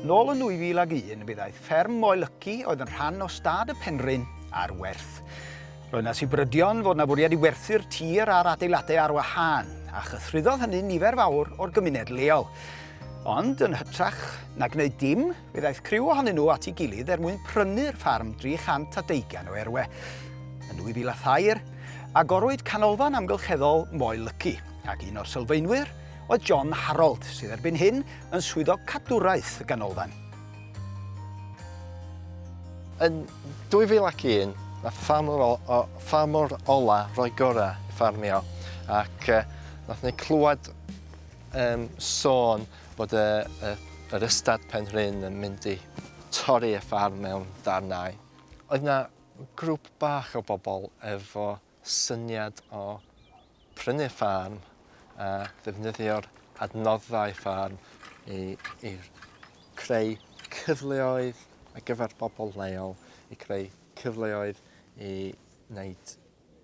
Nôl yn 2001 fe ddaeth fferm Moel Yci oedd yn rhan o stad y Penrhyn ar werth. Roedd yna sibrydion fod yna fwriad i werthu'r tir a'r adeiladau ar wahân, a chythruddodd hynny nifer fawr o'r gymuned leol. Ond yn hytrach na gwneud dim, Fe ddaeth criw ohonyn nhw at ei gilydd er mwyn prynu'r ffarm 300 a deugain o erwe. Yn 2003, agorwyd Canolfan Amgylcheddol Moel Lyci, ac un o'r sylfaenwyr oedd John Harold, sydd erbyn hyn yn swyddog cadwraeth y ganolfan. Yn 2001, nath ffarmwr o, o, ffarmwr ola roi gora i ffarmio, ac uh, nath ni clywed um, sôn Bod y, y, yr ystad pen rhyn yn mynd i torri y ffarm mewn darnau. Oedd na grŵp bach o bobl efo syniad o prynu'r ffarm a ddefnyddio'r adnoddau ffarm i, i creu cyfleoedd ar gyfer bobl leol, i creu cyfleoedd i wneud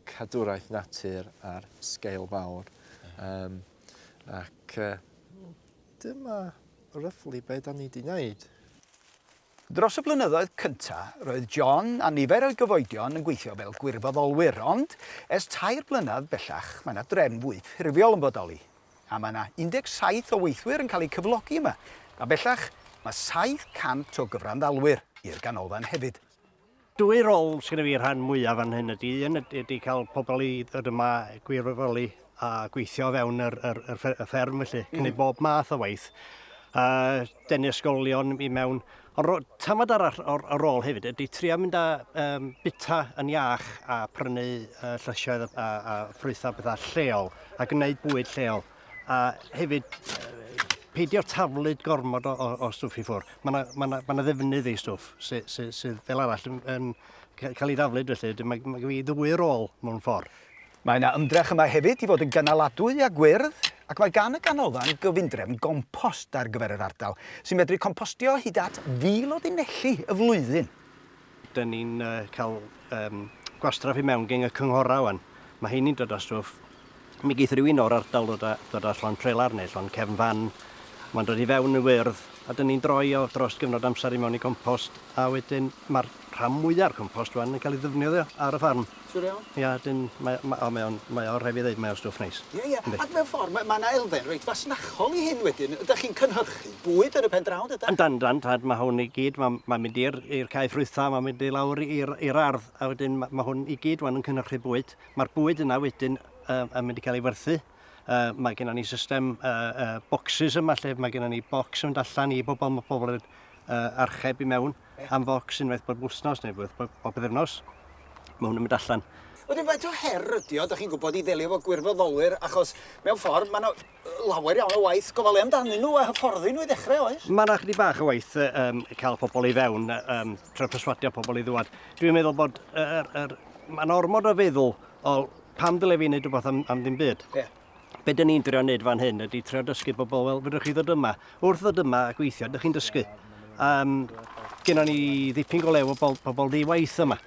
cadwraeth natur ar sgeil fawr. Um, ac uh, dyma ryfflu be da ni di wneud. Dros y blynyddoedd cynta, roedd John a nifer o'i gyfoedion yn gweithio fel gwirfoddolwyr, ond es tair blynedd bellach, mae yna drefn fwy ffurfiol yn bodoli, a mae yna 17 o weithwyr yn cael eu cyflogi yma, a bellach mae 700 o gyfranddalwyr i'r ganolfan hefyd. Dwy rôl sydd gyda fi rhan mwyaf fan hyn ydy, un ydy cael pobl i ddod yma, gwirfoddoli a gweithio fewn yr, yr, yr fferm felly, mm. cynnig bob math o waith, a denu ysgolion i mewn. Ond tamad arall o'r, o'r rôl hefyd ydy trio mynd â um, bita yn iach a prynu uh, llysioedd a, a, a ffrwythau bethau lleol a gwneud bwyd lleol. A hefyd, peidio taflud gormod o, o, o stwff i ffwrdd. Mae yna ma ma ma ddefnydd ei stwff sydd sy, sy fel arall yn, yn cael ei daflud felly. Mae, mae gen i ddwy rôl mewn ffordd. Mae yna ymdrech yma hefyd i fod yn gynaladwy a gwyrdd ac mae gan y ganolfan gyfundrefn gompost ar gyfer yr ardal sy'n medru compostio hyd at fil o linelli y flwyddyn. Dyn ni'n cael um, gwastraff i mewn gen y cynghorau wan. Mae heini'n dod â stwff. Mi geith rhywun o'r ardal ddod â, dod â llon trelar neu llon cefn fan. Mae'n dod i fewn yn wyrdd a dyn ni'n droi o dros gyfnod amser i mewn i compost a wedyn mae'r rhan mwyaf o'r compost wan yn cael ei ddefnyddio ar y ffarm. Siŵr iawn? Ia dyn mae ma' o mae o'n mae o rhaid fi ddeud mae o'n stwff neis. Ie ie. Yndi. Ac mewn ffor ma' ma' 'na elfen reit fasnachol i hyn wedyn, ydach chi'n cynhyrchu bwyd ar y pen draw yndydach? Yndan yndan t'wod ma' hwn i gyd ma' ma'n mynd i'r i'r cae ffrwytha' ma'n mynd i lawr i'r i'r ardd a wedyn ma' ma' hwn i gyd ŵan yn cynhyrchu bwyd. Ma'r bwyd yna wedyn yy yn mynd i ca'l ei werthu yy ma' gennon ni system yy yy bocsys yma lle ma' gennon ni bocs yn mynd allan i bobol ma' pobol yn yy archeb i mewn am focs unwaith bob wsnos neu unwaith bob, bob byddefnos. Mae hwn yn mynd allan. Wedyn faint o her ydi o, da chi'n gwybod, i ddelio fo gwirfoddolwyr, achos mewn ffordd mae yna lawer iawn o waith gofalu amdanyn nhw a hyfforddi nhw i ddechrau, oes? Mae yna chdi bach o waith um, cael pobl i fewn, um, trwy perswadio pobl i ddwad. Dwi'n meddwl bod er, er, mae'n ormod o feddwl o pam dyle fi wneud rhywbeth am, am ddim byd. Yeah. be dyn ni'n drio wneud fan hyn ydy trio dysgu bobl, wel, fydwch chi ddod yma. Wrth ddod yma a gweithio, ydych chi'n dysgu. Um, Gynno ni ddipyn go lew o bobl, pobl di waith yma.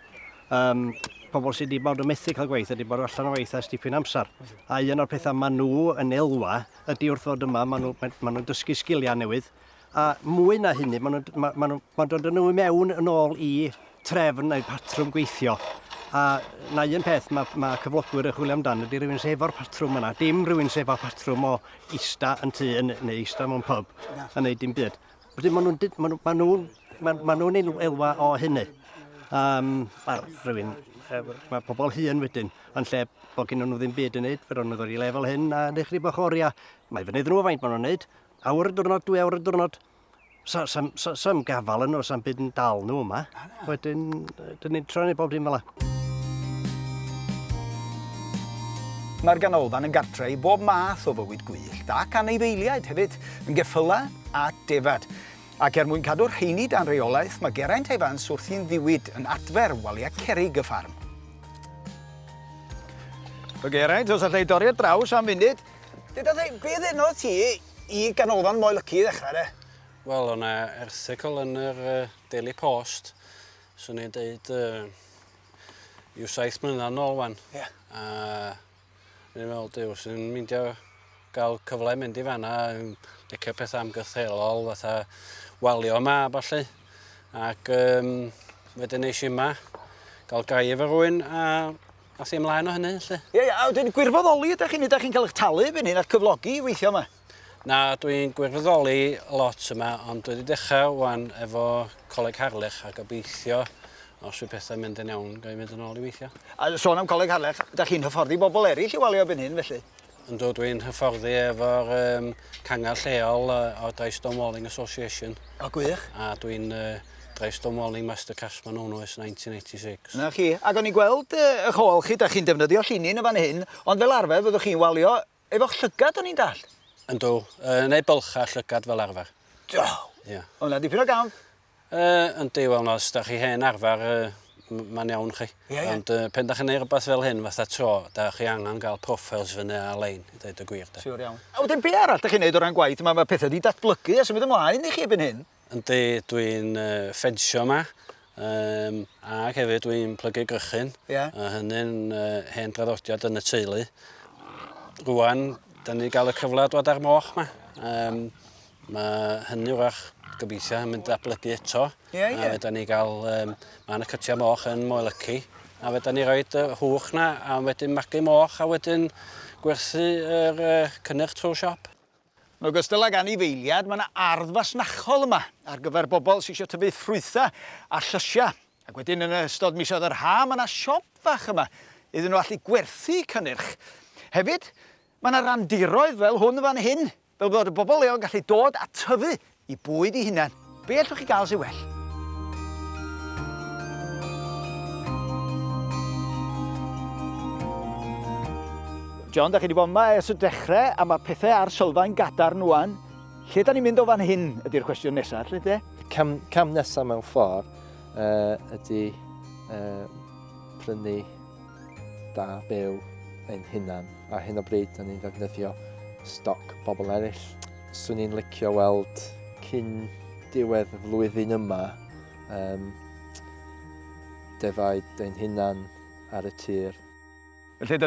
Um, pobl sydd wedi bod yn methu cael gwaith, wedi bod allan o waith ers dipyn amser. A un o'r pethau maen nhw yn elwa ydy wrth ddod yma, maen nhw'n nhw, maen nhw dysgu sgiliau newydd, A mwy na hynny, maen nhw'n ma, ma nhw, ma dod yn nhw i mewn yn ôl i trefn neu patrwm gweithio. A na un peth mae, ma cyflogwyr yn chwilio amdano ydy rhywun sy'n efo'r patrwm yna. Dim rhywun sy'n efo'r patrwm o ista yn tu yn, neu ista mewn pub yn gwneud dim byd. Felly maen nhw'n ma nhw, ma nhw, ma, ma nhw elwa o hynny. Um, Wel, rhywun, mae pobl hyn wedyn, yn lle bod gen nhw ddim byd yn neud, fe ro'n nhw ddod i lefel hyn a ddechrau bach oriau. Mae fynydd nhw faint maen nhw'n neud, Awr y diwrnod, dwy awr y diwrnod. Sa, sa, sa, sa gafal yn nhw, sa'n byd yn dal nhw yma. Wedyn, dyn ni'n troi ni bob dim fel la. Mae'r ganolfan yn gartre i bob math o fywyd gwyllt ac anifeiliaid hefyd, yn geffylau a defad. Ac er mwyn cadw'r rheini dan reolaeth, mae Geraint Evans wrthi'n ddiwyd yn adfer waliau cerig y ffarm. O Geraint, os allai dorri ar draws am funud, Deda dde, be ddenodd ti i ganolfan Moel Lyci i ddechrau de? Wel, o'na erthygl yn yr Daily Post, swn i'n deud uh, i'w saith mlynedd yn ôl wan. Yeah. A ni'n meddwl, diw, sy'n myndio gael cyfle mynd i fanna, yn licio pethau amgythelol, fatha walio yma a falle. Ac um, wedyn eisiau yma, gael gaif ar rwy'n, a Gas i ymlaen o hynny, lle? Ie, ie, a wedyn gwirfoddoli ydych chi'n ydych chi'n cael eich talu fy hyn, a cyflogi i weithio yma? Na, dwi'n gwirfoddoli lot yma, ond dwi wedi dechrau wan efo Coleg Harlech a gobeithio os yw pethau'n mynd yn iawn, gael ei fynd yn ôl i weithio. A sôn am Coleg Harlech, ydych chi'n hyfforddi bobl eraill i walio byn hyn felly? Yndw, dwi'n hyfforddi efo'r um, cangar lleol uh, o'r Dry Stonewalling Association. O, gwych. A dwi'n uh, Dry Stonewalling Master Craftsman o'n oes 1986. Na chi. Ac o'n i'n gweld uh, eich ôl chi, da chi'n defnyddio llinin yn fan hyn, ond fel arfer fyddwch chi'n walio efo'ch llygad o'n i'n dall. Yndw, uh, neu bylcha llygad fel arfer. Do! Ie. Yeah. O'na dipyn o gamp. Yy, yndi, wel na, os da chi hen arfer, yy, mae'n iawn chi. Ie, ie. Ond yy, pen da chi'n neud rhywbeth fel hyn, fatha tro, da chi angen gael profiles fyny ar-lein, i ddeud y gwir, de. Siwr iawn. A wedyn, be arall da chi'n neud o ran gwaith? Mae ma pethau wedi datblygu a symud ymlaen i chi ebyn hyn. Yndi, dwi'n uh, ffensio yma, um, ac hefyd dwi'n plygu grychyn. Ie. A hynny'n uh, hen draddodiad yn y teulu. Rwan, da ni gael y cyfle dod ar moch ma. Um, Mae hynny wrach gobeithio yn mynd datblygu eto. Ie, ie. A fedra ni gael... Um, mae yna cytiau moch yn Moelyci. A fedra ni roi y hwch na a wedyn magu moch a wedyn gwerthu yr uh, cynnyrch trwy'r siop. Yn ogystal ag anifeiliad, mae yna ardd fasnachol yma ar gyfer bobl sy'n eisiau tyfu ffrwythau a llysiau. Ac wedyn yn ystod misoedd yr ha, mae yna siop fach yma iddyn nhw allu gwerthu cynnyrch. Hefyd, mae yna randiroedd fel hwn fan hyn Fel bod y bobl leol yn gallu dod a tyfu i bwyd i hunan. Be allwch chi gael sy'n well? John, da chi wedi bod yma ers y dechrau a mae pethau ar sylfaen gadarn wan. Lle da ni'n mynd o fan hyn ydy'r cwestiwn nesaf, lle de? Cam, cam nesaf mewn ffordd uh, ydy uh, prynu da byw ein hunan. Ar hyn o bryd, da ni'n ddefnyddio stoc pobl eraill. Swn i'n licio weld cyn diwedd y flwyddyn yma um, defaid ein hunan ar y tir. Felly dyna